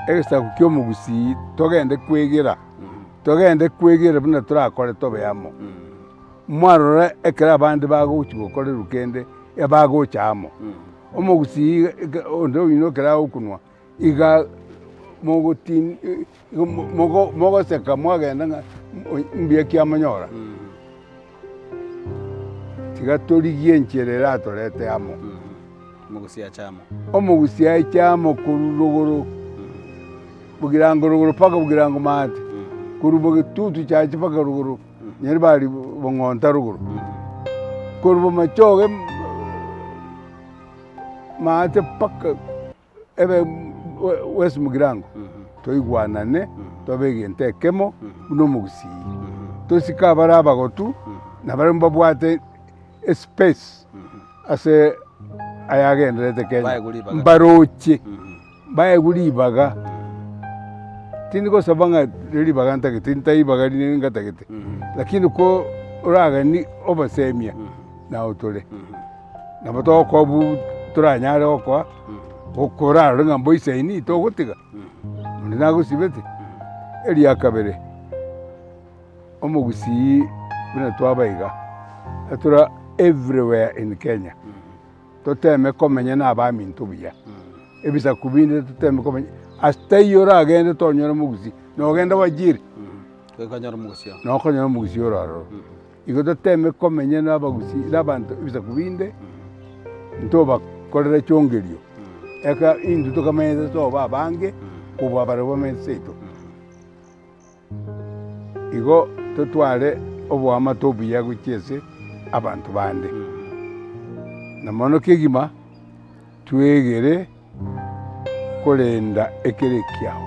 egesaku ki'omogusii togende kwegera, togende kwegera buna torakore tobe amo. Mwarora ekero abande bagochia gokorerwa kende, ebagocha amo. Omogusii iga onde oino ekero agokunwa iga mogotin mogo mogoseka mwagenda ng'a mbuya ki amonyora. Tiga torigie enchera eratorete amo. Omogusi aiche amo korwa rogoro, bogirango rogoro mpaka bogirango maate, korwa bogetutu chiache mpaka rogoro, nyiri bari bong'onta rogoro. Korwa bomachoge maate mpaka. Ebe bw'esimogirango, toigwanane, tobe egento ekemo buna omogusii, tosike abare abagotu, na barabwo mbabwate espesi ase ayagendererete Kenya, mbaroche, mbaegwe ribaga. Tindi gosaba ng'a ribaga ntagete, ntari ribaga rinde ngatagete, rakini ko oragani obosemia, nao tore. Nabo togokoa obu toranyare gokoa, okorarore ng'a mboisaini togotiga, onde nagosibete. Eria kabere, omogusii buna twaba iga, etura everywhere in Kenya, toteme komenya na abaminto buya, ebisaku binde toteme komenya, ase taiyo oragende tonyore omogusii, nogenda wajiri, nokonyora omogusii ore aroro. Igo toteeme komenya nabagusii nabanto ebisaku binde, ntobakorere chiongererio, eka intwe tokamanyete tobe abange kobua barabwo bamenyete seito. Igo totware oboamate obuya gochia ase abanto bande, na mono kegima tweegere. korenda ekero ekiao.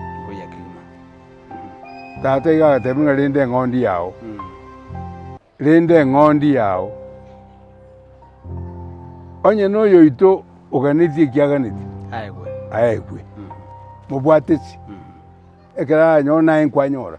Tata igo agateebia ng'a renda eng'ondi yao, renda eng'ondi yao. Onye na oyoito oganetie eki aganeti, aegwe, mobwate chi, ekero aranyore naye nkwanyora.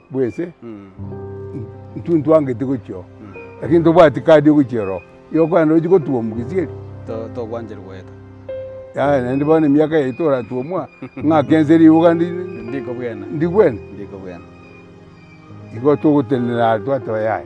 bw'ense, intwe ntwangeti gochia oo, lakini tobwati kadi yo gochia oroo, igo okogenda ochi gotuomwa gesieri? Togwancherwa goeta. Yaya naende bono emiaka yaito oratuomwa ng'ake ense ribuga ndi kobwena. Ndi kobwena. Igo togotenena are twateba yaya.